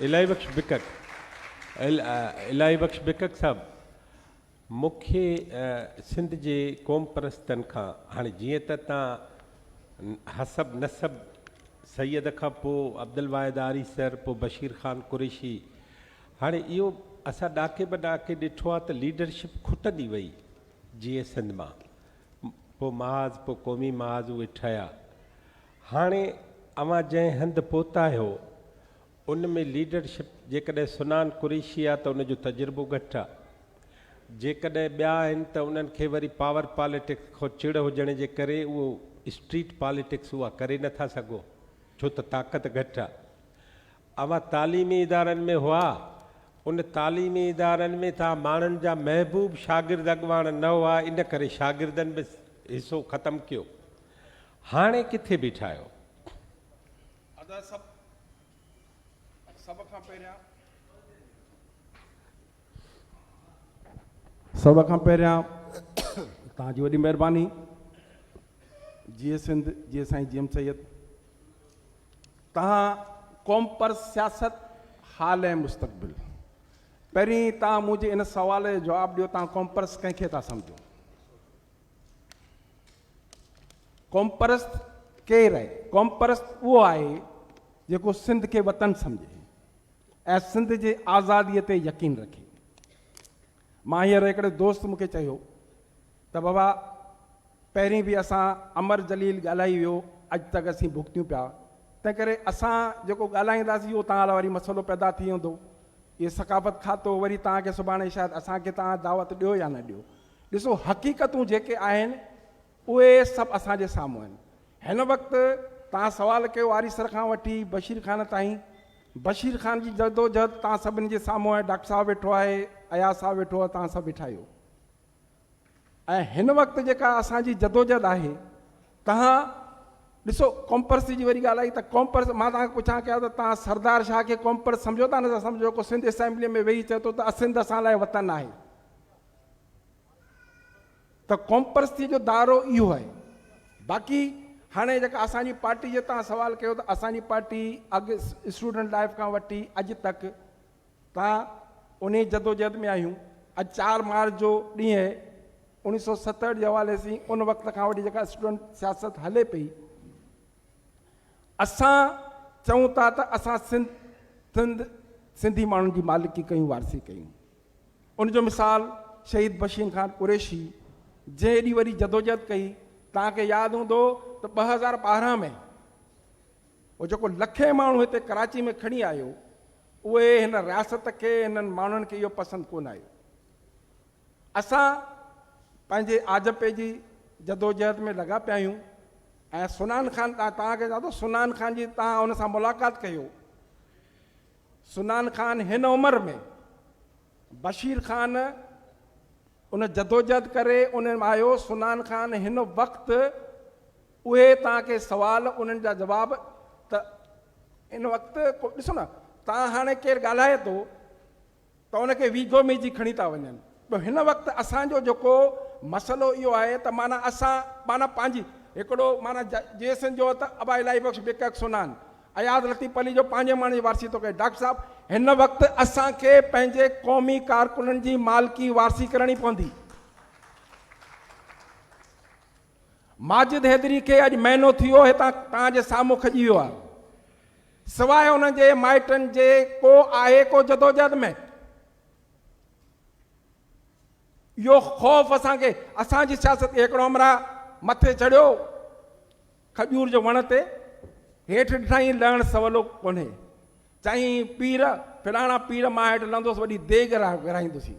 الاهي بخش بڪڪ الاهي بخش بڪڪ صاحب مون کي سنڌ جي قوم پرستن کان هاڻي جيئن ته تان حسب نسب سيد کان پو عبدالواحد آري سر پو بشير خان قريشي هاڻي اهو اسان ڏاڪي به ڏاڪي ڏٺو آ ته ليڊرشپ کٽندي وئي جيئن سنڌ مان پو محاذ پو قومي محاذ اهي ٺهيا هاڻي اوهان جنهن هنڌ پهتا آهيو، ان ۾ ليڊرشپ جيڪڏهن سنان قريشي آ ته ان جو تجربو گهٽ آ. جيڪڏهن ٻيا آهن ته انهن کي وري پاور پاليٽڪس کان چڙ هجڻ جي ڪري اهو اسٽريٽ پاليٽڪس اها ڪري نه ٿا سگهو ڇو ته طاقت گهٽ آ. اوهان تعليمي ادارن ۾ هئا، ان تعليمي ادارن ۾ ته آ ماڻهن جا محبوب شاگرد اڳواڻ نه هئا ان ڪري شاگردن به حصو ختم ڪيو. هاڻي ڪٿي بيٺا آهيو؟ ادا سڀ سڀ کان پهريان. سڀ کان پهريان توهان جي وڏي مهرباني. جيئي سنڌ جيئي سائين جي ايم سيد. توهان قوم پر سياست حال ۽ مستقبل. پهرين توهان منهنجي ان سوال جو جواب ڏيو توهان قوم پرست ڪنهن کي ٿا سمجهو؟ قومپرست ڪير آهي؟ قومپرست اهو آهي جيڪو سنڌ کي وطن سمجهي ۽ سنڌ جي آزادي تي يقين رکي. مان هينئر هڪڙي دوست مون کي چيو ته بابا پهرين به اسان امر جليل ڳالهائي ويو اڄ تڪ اسين ڀڳتيون پيا تنهن ڪري اسان جيڪو ڳالهائينداسين اهو توهان لاء وري مسئلو پيدا ٿي ويندو. اهي ثقافت کاتو وري توهان کي سڀاڻي شايد اسان کي توهان دعوت ڏيو يا نه ڏيو ڏسو حقيقتون جيڪي آهن اهي سڀ اسان جي سامهون آهن. هن وقت توهان سوال ڪيو آري سر کان وٺي بشير خان تائين. بشير خان جي جدوجهد توهان سڀني جي سامهون آهي ڊاڪٽر صاحب ويٺو آهي، اياز صاحب ويٺو آهي توهان سڀ ويٺا آهيو. ۽ هن وقت جيڪا اسان جي جدوجهد آهي توهان ڏسو ڪومپرس جي وري ڳالهه آئي ته ڪومپرس مان توهان کي پڇان ڪيا ته توهان سردار شاهه کي ڪومپرس سمجهو ٿا نه ٿا سمجهو جيڪو سنڌ اسيمبلي ۾ ويهي چئي ٿو ته اسنڌ اسان لاء وطن آهي. ته قومپرستي جو دائرو اهو آهي. باقي هاڻي جيڪا اسان جي پارٽي جي تان سوال ڪيو ته اسان جي پارٽي اڳ اسٽوڊنٽ لائف کان وٺي اڄ تڪ تان انهي جدوجهد ۾ آهيون. اڄ چار مارچ جو ڏينهن اهي اوڻي سو ستهٺ جي حوالي سين ان وقت کان وٺي جيڪا اسٽوڊنٽ سياست هلي پئي اسان چئون ٿا ته اسان سنڌ سنڌ سنڌي ماڻهن جي مالڪي ڪيون وارثي ڪيون. ان جو مثال شهيد بشيم خان قريشي جنهن ايڏي وڏي جدوجهد ڪئي توهان کي ياد هوندو ته ٻه هزار ٻارهن ۾ هو جيڪو لکين ماڻهو هتي ڪراچي ۾ کڻي آيو اهي هن رياست کي هنن ماڻهن کي اهو پسند ڪونه آيو اسان پنهنجي آجپي جي جدوجهد ۾ لڳا پيا آهيون ۽ سنان خان توهان کي چوان ٿو سنان خان جي توهان ان سان ملاقات ڪيو سنان خان هن عمر ۾ بشير خان ان جدوجهد ڪري ان م آيو سنان خان هن وقت اهي توهان کي سوال انهن جا جواب ته ان وقت ڏسو نه توهان هاڻي ڪير ڳالهائي ٿو ته ان کي ويجهو ميجهي کڻي ٿا وڃن ٻيو هن وقت اسان جو جيڪو مسئلو اهو آهي ته معنيٰ اسان معنيٰ پنهنجي هڪڙو معنيٰ جيسين جو ته ابا الاهي بخش بڪڪ سنان اياز لطيف علي جو پنهنجي معنيٰ جي وارثي ٿو ڪري ڊاڪٽر صاحب هن وقت اسان کي پنهنجي قومي ڪارڪنن جي مالڪي وارثي ڪرڻي پوندي. ماجد حيدري کي اڄ مهينو ٿيو هتان توهان جي سامهون کڄي ويو آهي. سواء ان جي مائٽن جي ڪو آهي ڪو جدوجهد ۾؟ اهو خوف اسان کي اسان جي سياست کي هڪڙو همراهه مٿي چڙهيو کجور جو وڻ تي هيٺ ڏٺائين لهڻ سولو ڪونهي. چيائين پير فلاڻا پير مان هيٺ لهندس وڏي ديڳ وراهيندسين.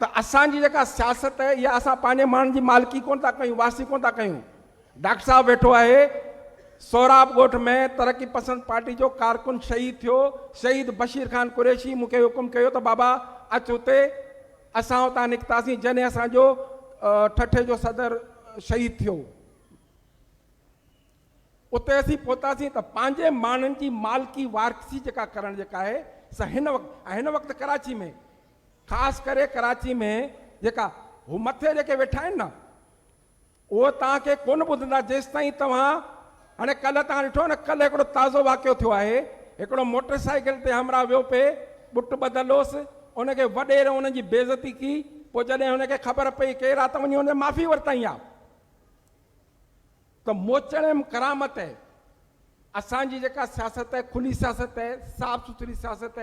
ته اسان جي جيڪا سياست آهي اها اسان پنهنجي ماڻهن جي مالڪي ڪونه ٿا ڪيون وارثي ڪونه ٿا ڪيون ڊاڪٽر صاحب ويٺو آهي سهراب ڳوٺ ۾ ترقي پسند پارٽي جو ڪارڪن شهيد ٿيو شهيد بشير خان قريشي مون کي حڪم ڪيو ته بابا اچ هتي اسان هتان نڪتاسين جڏهن اسان جو ٺٺي جو صدر شهيد ٿيو اتي اسين پهتاسين ته پنهنجي ماڻهن جي مالڪي وارثي جيڪا ڪرڻ جيڪا آهي سا هن وقت هن وقت ڪراچي ۾ خاص ڪري ڪراچي ۾ جيڪا هو مٿي جيڪي ويٺا آهن نه اهي توهان کي ڪونه ٻڌندا جيستائين توهان هاڻي ڪلهه توهان ڏٺو نه ڪلهه هڪڙو تازو واقعو ٿيو آهي هڪڙو موٽر سائيڪل تي همراهه ويو پئي ٻٽ ٻڌل هوس ان کي وڏيري ان جي بيعزتي ڪي پوء جڏهن هن کي خبر پئي ڪير آ ته وڃي هن معافي ورتائين آ ته موچڙيم ڪرامت اسان جي جيڪا سياست کلي سياست صاف سٿري سياست